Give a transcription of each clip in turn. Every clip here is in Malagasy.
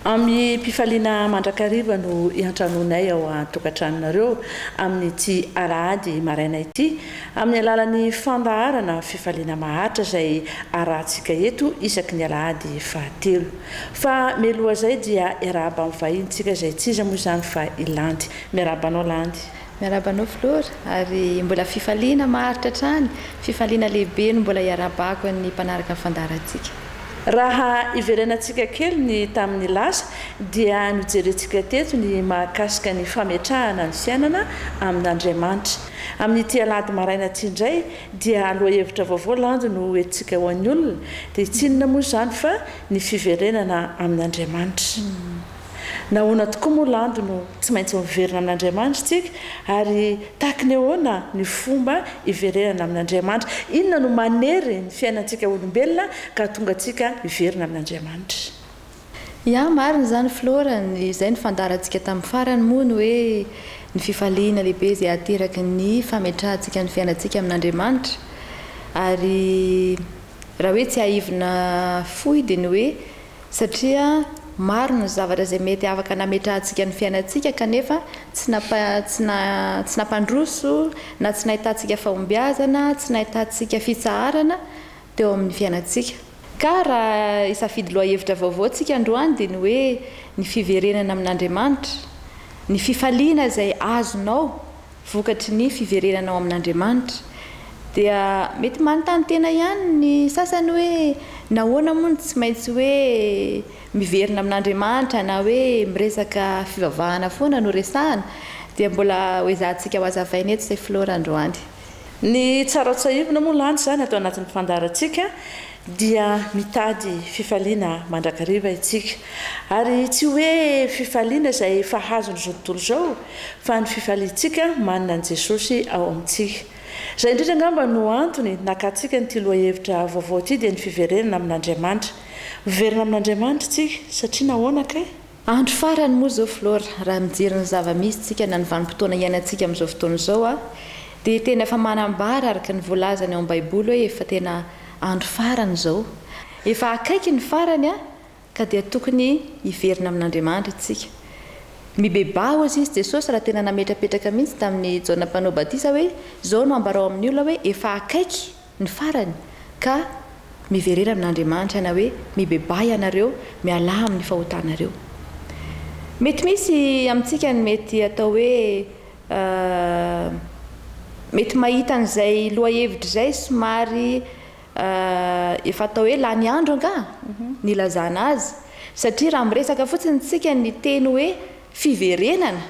Amim-pifaliana mandrakariva no iantranoanay ao an-tokantranonareo amin'ity alahady maraina ity, amin'ny alalan'ny fandaharana Fifaliana Maharitra izay arahantsika eto isaky ny alahady fahatelo. Fa mialoha izay dia iarahaba amin'ny vahintsika izay tsy iza moa izany fa i Landy. Miarahaba anao Landy. Miarahaba anao Filoha ary mbola fifaliana maharitra hatrany, fifaliana lehibe no mbola iarahabako an'ny mpanaraka ny fandaharantsika. Raha iverenantsika kely ny tamin'ny lasa dia nojerentsika teto ny mahakasika ny fametrahana ny fiainana amin'Andriamanitra. Amin'ity alahady maraina ity indray dia lohahevitra vaovao landy no hoentintsika ho an'ny olona, dia tsy inona moa izany fa ny fiverenana amin'Andriamanitra. Nahoana tokoa moa landy no tsy maintsy miverina amin'Andriamanitra isika, ary tahaka ny ahoana ny fomba hiverenana amin'Andriamanitra? Inona no manery ny fiainantsika olombelona ka hahatonga antsika hiverina amin'Andriamanitra? Ya, marina izany Flora, izay no fandaharantsika tamin'ny farany moa ny hoe ny fifaliana lehibe izay ateraky ny fametrahantsika ny fiainantsika amin'Andriamanitra, ary raha hoe tsiahivina fohy dia ny hoe, Satria maro ny zavatra izay mety afaka nametrahantsika ny fiainantsika kanefa tsy nampa, tsy na, tsy nampandroso na tsy nahitantsika fahombiazana, tsy nahitantsika fitsaharana teo amin'ny fiainantsika. Ka raha hisafidy lohahevitra vaovao isika androany dia ny hoe ny fiverenana amin'Andriamanitra, ny fifaliana izay azonao, Vokatry ny fiverenana ao amin'Andriamanitra, dia mety manontany tena ihany ny sasany hoe, nahoana moa no tsy maintsy hoe miverina amin'Andriamanitra na hoe miresaka fivavahana foana no resahana? Dia mbola hoezahantsika hohazavaina eto izay Flora androany. Ny tsara ho tsahivina moa lanja izany ato anatin'ny fandaharantsika. Dia mitady fifaliana mandrakariva isika. Ary tsy hoe fifaliana izay efa azon'izao tontolo izao, fa ny fifaliantsika manana an'i Jesosy ao amintsika. Izay indrindra angamba no antony nakantsika an'ity lohahevitra vaovao ity, dia ny fiverenana amin'Andriamanitra. Miverina amin'Andriamanitra isika, satria nahoana kay? Andro farany moa zao Flora, raha mijery ny zava-misy tsika na ny vanim-potoana iainantsika amin'izao fotoana izao aho dia tena efa manambara araka ny voalazany ao amin'ny baiboly hoe efa tena andro farany izao. Efa akaiky ny farany an! ka dia tokony hiverina amin'Andriamandry istsika. Mibebaha hozy izy Jesosy raha tena nametrapetraka mihitsy tamin'i Jaona mpanao batisa hoe izao no ambarao amin'ny olona hoe efa akaiky Ny farany, ka miverena amin' Andriamanitra na hoe mibebaha ianareo, mialà amin' ny fahotanareo. Mety misy amintsika ny mety atao hoe mety mahita an'izay lohahevitra izay somary efa atao hoe lany andro angaha ny ilazana azy, satria raha miresaka fotsiny isika ny teny hoe fiverenana,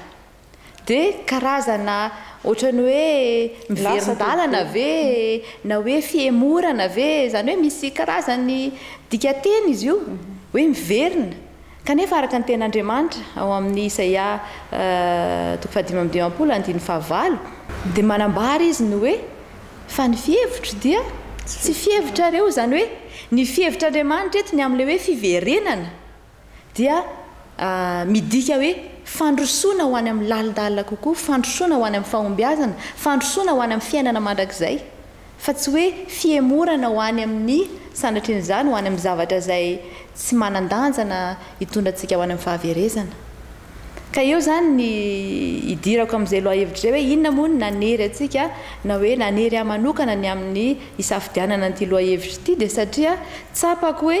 Dia karazana ohatran'ny hoe miverin-dalana ve na hoe fihemorana ve? Izany hoe misy karazany dikanteny izy io hoe miverina. Kanefa araka ny Tenin'Andriamanitra ao amin'ny Isaia toko fahadimy amby dimampolo andininy fahavalo dia manambara izy ny hoe fa ny fihevitro dia tsy fihevitrareo. Izany hoe ny fihevitr'Andriamanitra eto ny amin'ilay hoe fiverenana. dia midika hoe fandrosoana ho any amin'ny lalindalina kokoa, fandrosoana ho any amin'ny fahombiazana, fandrosoana ho any amin'ny fiainana mandrakizay, fa tsy hoe fihemorana ho any amin'ny, sanatrin'izany, ho any amin'ny zavatra izay tsy manan-danja na hitondra antsika ho any amin'ny fahaverezana. Ka eo izany ny idirako amin'izay lohahevitra izay hoe inona moa no nanery antsika na hoe nanery ahy manokana ny amin'ny hisafidianana an'ity lohahevitra ity dia satria tsapako hoe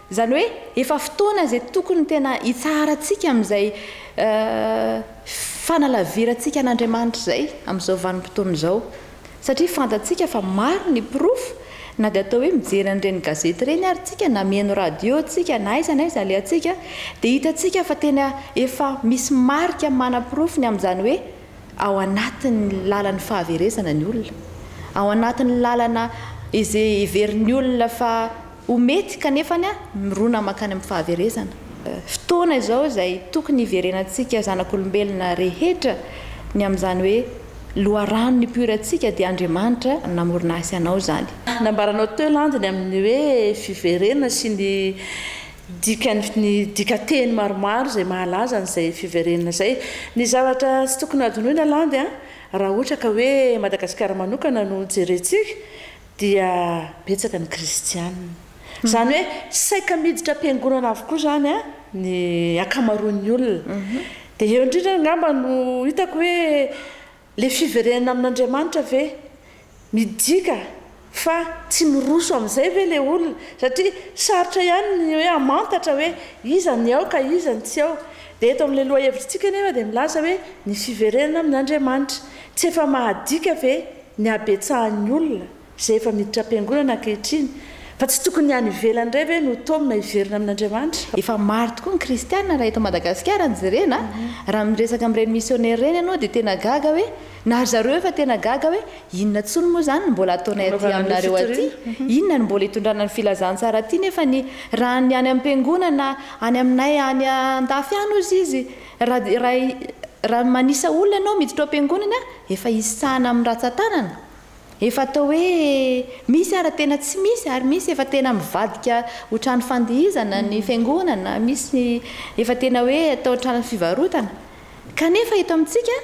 Izany hoe efa fotoana izay tokony tena hitsaharantsika amin'izay fanalavirantsika an'Andriamanitra izay amin'izao vanim-potoana izao. Satria fantatsika fa maro ny porofo, na dia atao hoe mijery an'ireny gazety ireny ary tsika na mihaino radio tsika na aiza na aiza alehantsika dia hitantsika fa tena efa misy marika manaporofo ny amin'izany hoe ao anatin'ny lalan'ny fahaverezana ny olona. Ao anatin'ny lalana izay heverin'ny olona fa Ho mety kanefa ny mirona mankany amin'ny fahaverezana. Fotoana izao izay tokony hiverenantsika zanak'olombelona rehetra ny amin'izany hoe loharano nipoirantsika dia Andriamanitra namorona ahy sy anao izany. Nambaranao teo landy ny amin'ny hoe fiverenana sy ny dikany ny dikanteny maromaro izay mahalaza an'izay fiverenana izay. Ny zavatra tsy tokony hadinoina landy a! raha ohatra ka hoe Madagasikara manokana no jerentsika dia betsaka ny kristiana. Izany hoe saika miditra am-piangonana avokoa izany ny ankamaroan'ny olona. Dia eo indrindra angamba no hitako hoe ilay fiverenana amin'Andriamanitra ve? Midika fa tsy miroso amin'izay ve ilay olona? Satria sarotra ihany ny hoe hamantatra hoe iza ny ao ka iza ny tsy ao. Dia eto amin'ilay lohahevitritsika anefa dia milaza hoe ny fiverenana amin'Andriamanitra. Tsy efa mahadika ve ny habetsahan'ny olona izay efa miditra am-piangonana ankehitriny, fa tsy tokony ny any ivelany indray ve no taomina hiverina amin'Andriamanitra? Efa maro tokoa ny kristiana raha eto Madagasikara no jerena a! Raha miresaka amin'ireny missionnaire ireny ianao dia tena gaga hoe, na ry zareo efa tena gaga hoe, inona intsony moa izany no mbola ataonay aty aminareo aty? Inona no mbola itondrana ny filazantsara aty nefa ny raha ny any am-piangonana any aminay any an-dafy any hozy izy Raha raha manisa olona ianao miditra ao am-piangonana efa isahana amin'ny ratsan-tanana, efa atao hoe misy ara tena tsy misy ary misy efa tena mivadika ho trano fandihizana ny fiangonana, misy efa tena hoe atao trano fivarotana, kanefa eto amintsika,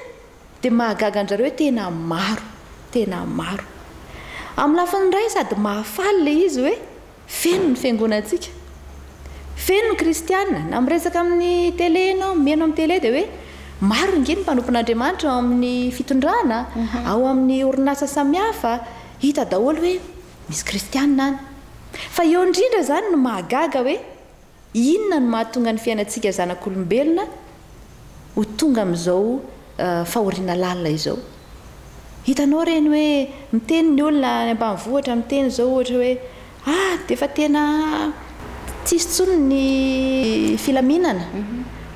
Dia mahagaga an-dRareo hoe tena maro, tena maro. Amin'ny lafiny iray sady mahafaly ilay izy hoe feno ny fiangonantsika, feno ny kristiana, na miresaka amin'ny tele ianao, mihaino amin'ny tele dia hoe maro ange ny mpanompon'Andriamanitra ao amin'ny fitondrana, ao amin'ny orinasa samihafa, hita daholo hoe misy kristiana any. Fa eo indrindra izany no mahagaga hoe Inona no mahatonga ny fiainantsika zanak'olombelona ho tonga amin'izao fahoriana lalina izao? Hitanao ireny hoe miteny ny olona any ambanivohitra miteny izao ohatra hoe ah dia efa tena tsy hisy intsony ny filaminana,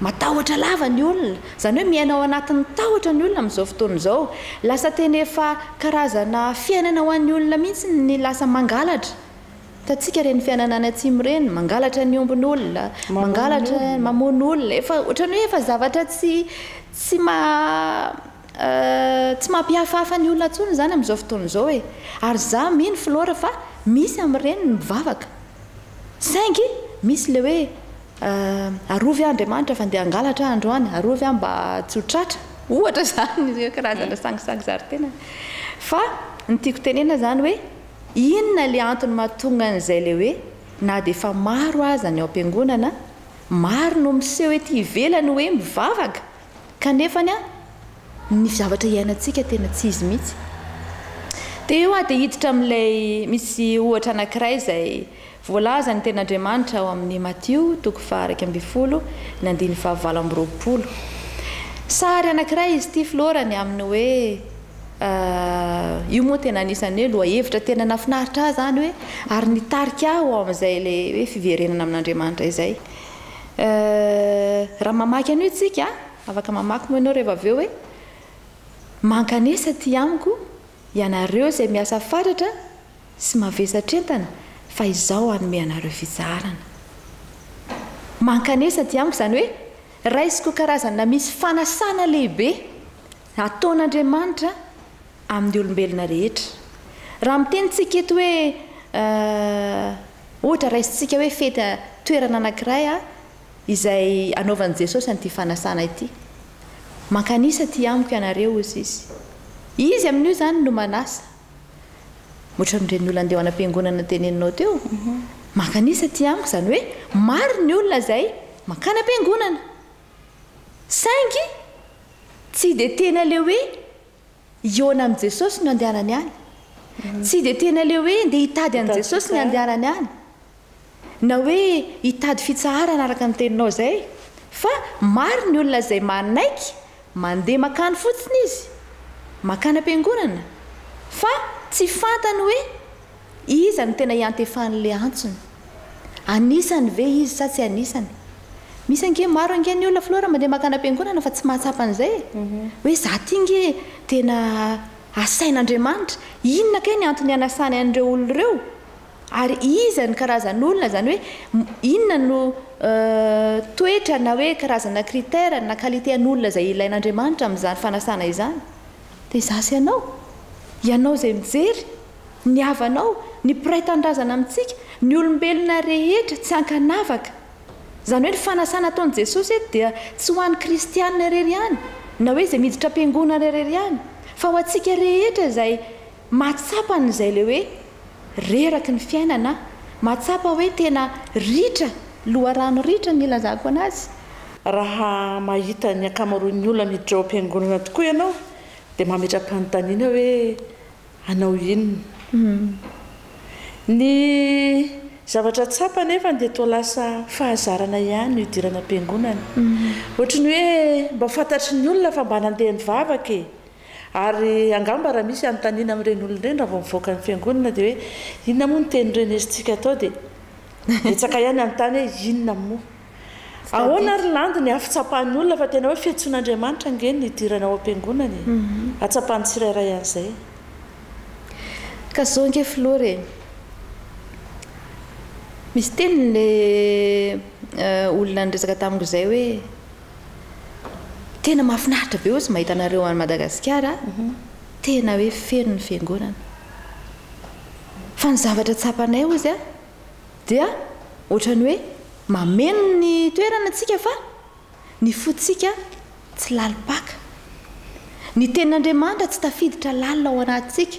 matahotra lava ny olona, izany hoe miaina ao anatin'ny tahotra ny olona amin'izao fotoana izao, lasa tena efa karazana fiainana ho an'ny olona mihitsy ny lasa mangalatra. Hitantsika ireny fiainana any atsimo ireny, mangalatra ny ombin'olona, mangalatra, mamono olona, efa ohatran'ny hoe efa zavatra tsy tsy tsy mampihafahafa ny olona intsony izany amin'izao fotoana izao e! Ary izaho mino Flora fa misy amin'ireny ny mivavaka, saingy misy ilay hoe arovy aho Andriamanitra fa ndeha hangalatra aho androany, arovy aho mba tsy ho tratra, ohatra izany, karazana sangisangy zari-tena, fa ny tiako tenena izany hoe Inona le antony mahatonga an'izay le hoe na dia efa maro aza ny ao am-piangonana, maro no miseho ety ivelany hoe mivavaka kanefany ny zavatra iainantsika tena tsy izy mihitsy. Dia eo aho dia hiditra amin'ilay misy ohatra anankiray izay Voalazan'ny Tenin'Andriamanitra ao amin'ny Matio toko faha iraika ambin'ny folo ny andininy faha valo amby roapolo. Sary anankiray izy ity florany amin'ny hoe io moa tena anisan'ny hoe lohahevitra tena nafinaritra ahy izany hoe ary nitarika ahy ho ao amin'izay ilay hoe fiverenana amin'Andriamanitra izay. Raha mamaky an'io isika, afaka mamaky moa ianao reva avy eo hoe mankanesa aty amiko ianareo izay miasa fatratra Tsy mavesatra entana fa izaho hanome anareo fizarana. Mankanesa aty amiko izany hoe raisiko karazana misy fanasana lehibe ataon'Andriamanitra amin'ny olombelona rehetra. Raha mitenintsika eto hoe eh, ohatra raisintsika hoe fety toerana anankiray ah, izay anaovan'i Jesosy an'ity fanasana ity. Mankanisa aty amiko ianareo hozy Izy. Izy amin'io izany no manasa. Ohatran'ireny olona andeha ho any am-piangonana teneninao teo. Maka an'isa aty amiko, izany hoe maro ny olona izay mankany am-piangonana, saingy tsy dia tena ilay hoe hihaona amin'i Jesosy no andehanany any, tsy dia tena ilay hoe ndeha hitady an'i Jesosy ny andehanany any. Na hoe hitady fitsaharana araka ny teninao izay, fa maro ny olona izay manaiky mandeha makany fotsiny izy, makany am-piangonana, fa tsy fantany hoe iza no tena iantefan'ilay antsony. Anisany ve izy sa tsy anisany? Misy ange, maro ange ny olona filoha raha mandeha makany am-piangonana fa tsy mahatsapa an'izay e! Hoe izaho ity ange tena asain'Andriamanitra. Inona kay ny antony anasany an'ireo olona ireo? Ary iza ny karazan'olona, izany hoe inona no toetra na hoe karazana critère na qualité an'olona izay ilain'Andriamanitra amin'izany fanasana izany? Dia izaho sy ianao, ianao izay mijery, ny havanao, ny mpiray tanindrazana amintsika, ny olombelona rehetra tsy ankanavaka. Izany hoe ny fanasana ataon'i Jesosy eto dia tsy ho an'ny kristiana irery ihany na hoe izay miditra am-piangonana irery ihany fa ho antsika rehetra izay Mahatsapa an'izay ilay hoe reraky ny fiainana aho. Mahatsapa hoe tena ritra, loharano ritra ny ilazako an'azy. Raha mahita ny ankamaroan'ny olona miditra ao am-piangonana tokoa ianao, dia mametra-panontaniana hoe, Hanao inona? Ny zavatra tsapa anefa dia toa lasa fahazarana ihany ny hidirana am-piangonana. Ohatry ny hoe mba fantatry ny olona fa mba nandeha nivavaka e! Ary angamba raha misy hanontaniana amin'ireny olona ireny raha vao mivoaka ny fiangonana dia hoe inona moa ny teny renesintsika atao dia betsaka ihany hanontany hoe inona moa? Ahoana ary landy ny hafitsapan'ny olona fa tena hoe fiantsoan'Andriamanitra ange ny hidirana ao am-piangonana e! Hatsapan'ny tsirairay an'izay. Ka zao ange filoha re, misy teniny ilay olona niresaka tamiko izay hoe, Tena mahafinaritra be ozy mahita anareo any Madagasikara a! Tena hoe feno ny fiangonana. Fa ny zavatra tsapanay ozy a, dia ohatran'ny hoe mameno ny toerana tsika fa ny fotsika tsy lalim-paka. Ny tenin'Andriamanitra tsy tafiditra lalina ao anatintsika.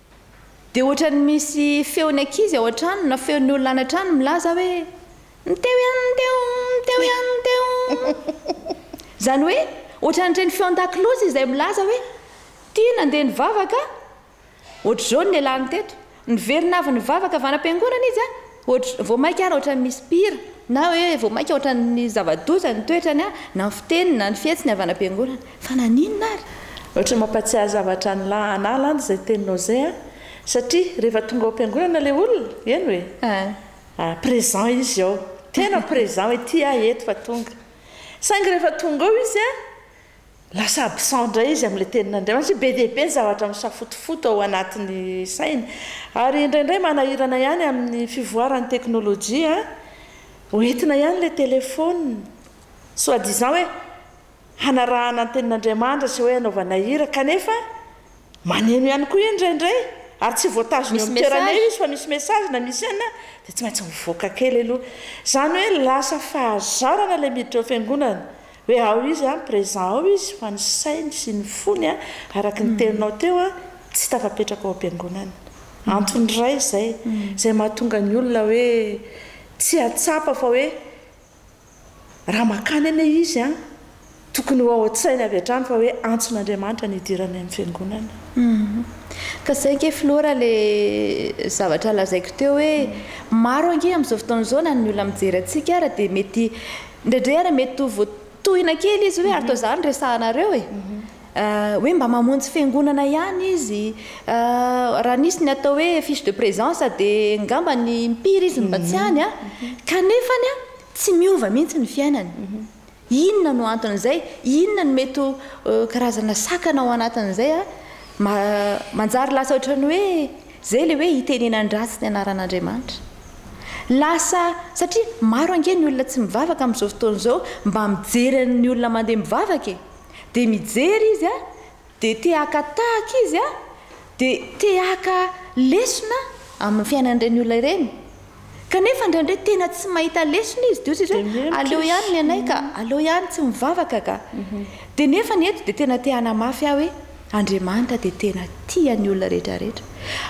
Dia ohatran'ny misy feon'ny ankizy ao an-trano na feon'ny olona any an-trano milaza hoe, Mteo ian, mteo, mteo ian, mteo. Izany hoe, ohatran'ireny feon-dakilozy izay milaza hoe, Tia nandeha nivavaka a! Ohatr'izao no nialany teto. Niverina avy nivavaka avy any am-piangonana izy a! Ohatr, vao mainka ary ohatran'ny misy mpihira, na hoe vao mainka ohatran'ny zava-doza ny toetrany an, na ny fiteniny, na ny fihetsiny avy any am-piangonana. Fa naninona ary? Ohatran'ny mampahatsiahy zavatra an'i la an'ala any izay teninao izay an, satria rehefa tonga ao am-piangonana ilay olona, eny hoe, a, présent izy ao, tena présent hoe ety aho eto fa tonga. Saingy rehefa tonga ao izy an, Lasa absent indray izy amin'ilay tenin'Andriamanitra hoe be dia be ny zavatra misafotofoto ao anatin'ny sainy. Ary indraindray manahirana ihany amin'ny fivoaran'ny teknolojia, ho entina ihany ilay telefaonina, soit disant hoe hanarahana ny tenin'Andriamanitra sy hoe hanaovana hira, kanefa Maneno ihany koa eny indraindray ary tsy voatazona eo amin'ny toerana eo izy fa misy message na misy inona dia tsy maintsy mivoaka kely aloha. Izany hoe lasa fahazarana ilay miditra ao fiangonana hoe ao izy an, présent ao izy fa ny sainy sy ny fony an, araka ny teninao teo an, tsy tafapetraka ao am-piangonana. Antony iray izay, izay mahatonga ny olona hoe tsy ahatsapa fa hoe Raha makany anie izy an, tokony ho ao an-tsainy avy hatrany fa hoe antson'Andriamanitra ny hidirany amin'ny fiangonana. Ka izay ange filoha raha ilay zavatra lazaiko teo hoe maro ange amin'izao fotoana izao na ny olona mijery antsika ary dia mety indraindray ary mety ho voatohina kely izy hoe ary toa izany resahanareo e! hoe mba mamonjy fiangonana ihany izy, raha nisy ny atao hoe fiche de présence dia ngamba ny impiry izy no mba tsy any a, kanefa ny a tsy miova mihitsy ny fiainany, inona no anton'izay, inona no mety ho karazana sakana ao anatin'izay a, manjary lasa ohatran'ny hoe izay ilay hoe hitenenan-dratsy ny anaran'Andriamanitra, lasa satria maro ange ny olona tsy mivavaka amin'izao fotoana izao, mba mijery ny olona mandeha mivavaka e. dia mijery izy a, dia te haka tahaka izy a, dia te haka lesona amin'ny fiainan'ireny olona ireny, kanefa indraindray tena tsy mahita lesona izy, dia hoy sisa hoe aleo ihany ny anay ka, aleo ihany tsy mivavaka ka, dia nefany eto dia tena te hanamafy ahy hoe Andriamanitra dia tena tia ny olona rehetra rehetra,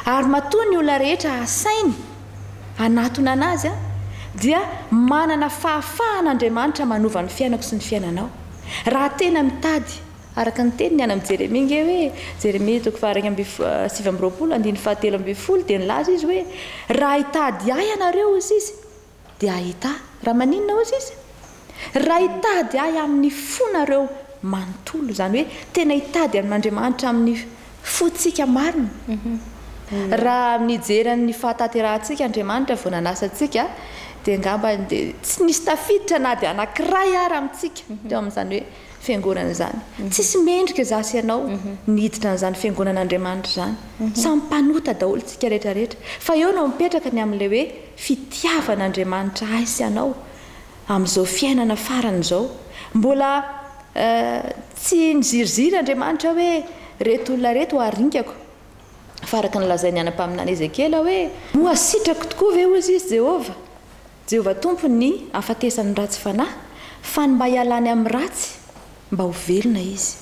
ary matoa ny olona rehetra asainy hanatona anazy a, dia manana fahafahana Andriamanitra manova ny fiainako sy ny fiainanao. Raha tena mitady, araka ny teniny, hanam Jeremia nge hoe, Jeremia toko fahairaika amby sivy amby roapolo andininy fahatelo ambin'ny folo dia nilaza izy hoe, Raha hitady ahy ianareo, hoy izy, dia hahita ahy. Raha maninona, hoy izy? Raha hitady ahy amin'ny fonareo manontolo, izany hoe tena hitady an'Andriamanitra amin'ny Fotsika marina. Raha mijery an'ny fahatanterahantsika Andriamanitra vao nanasa antsika dia angamba dia tsy nisy tafiditra na dia anankiray ara amintsika teo amin'izany hoe fiangonana izany. Tsisy mendrika izaho sy ianao niditra an'izany fiangonan'Andriamanitra izany. Samy mpanota daholo isika rehetra rehetra. Fa eo no mipetraka ny amin'ilay hoe fitiavan'Andriamanitra ahy sy anao. Amin'izao fiainana farany izao, mbola tsy miziriziry Andriamanitra hoe, Reto olona reto ho arinkako, fa araka ny lazain'ny anam-paminany Ezekiela hoe, Moa sitrako tokoa ve, hozy izy, Jehovah, Jehovah Tompo, ny hahafatesan'ny ratsy fanahy, fa ny mba hialany amin'ny ratsy? Mba ho velona izy.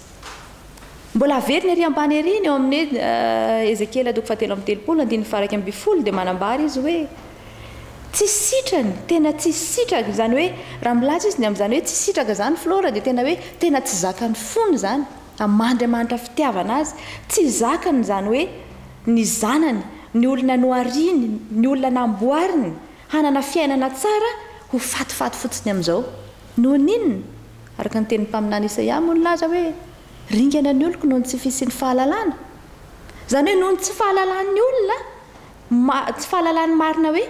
Mbola haverina ery ambany ery ny eo amin'ny Ezekiela toko fahatelo amby telopolo, andininy faha-iraika ambin'ny folo, dia manambara izy hoe, Tsy sitrany, tena tsy sitraka, izany hoe, raha milaza izy ny amin'izany hoe tsy sitraka izany Flora dia tena hoe tena tsy zakany fony izany, aman'Andriamanitra fitiavana azy, tsy zakany izany hoe ny zanany, ny olona nohariany, ny olona namboariny hanana fiainana tsara ho fatifaty fotsiny amin'izao. Noho ny inona? Araka ny tenin'ny mpaminany Isaia moa nilaza hoe, Ringana ny oloko noho ny tsy fisian'ny fahalalana. Izany hoe noho ny tsy fahalalan'ny olona, tsy fahalalany marina hoe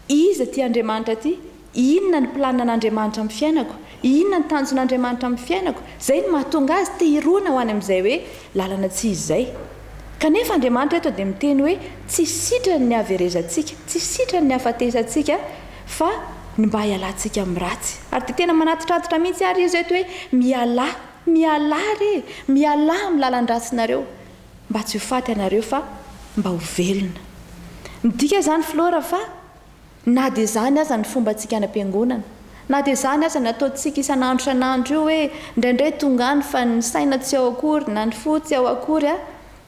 iza ity Andriamanitra ity, inona ny planinan'Andriamanitra amin'ny fiainako, inona ny tanjon'Andriamanitra amin'ny fiainako, izay no mahatonga azy te hirona ho any amin'izay hoe lalana tsy izy izay. Kanefa Andriamanitra eto dia miteny hoe tsy sitrany ny haverezantsika, tsy sitrany ny hahafatesantsika, fa ny mba hialantsika amin'ny ratsy. Ary dia tena manatitrantitra mihitsy ary izy eto hoe, Mialà, mialà re e, mialà amin'ny lalan-dratsinareo, mba tsy ho faty ianareo fa mba ho velona. Midika izany Flora fa na dia izany aza ny fombantsika any am-piangonana, na dia izany aza ny ataontsika isan'andro isan'andro io hoe indraindray tonga any fa ny saina tsy ao akory na ny fo tsy ao akory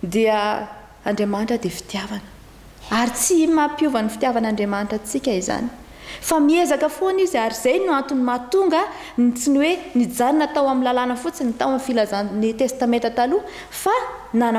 dia Andriamanitra dia fitiavana, ary tsy mampiova ny fitiavan'Andriamanitra antsika izany, fa miezaka foana Izy, ary izay no antony mahatonga ny tsy ny hoe nijanona tao amin'ny lalàna fotsiny, tao amin'ny filazan'ny Testamenta Taloha, fa nanam-.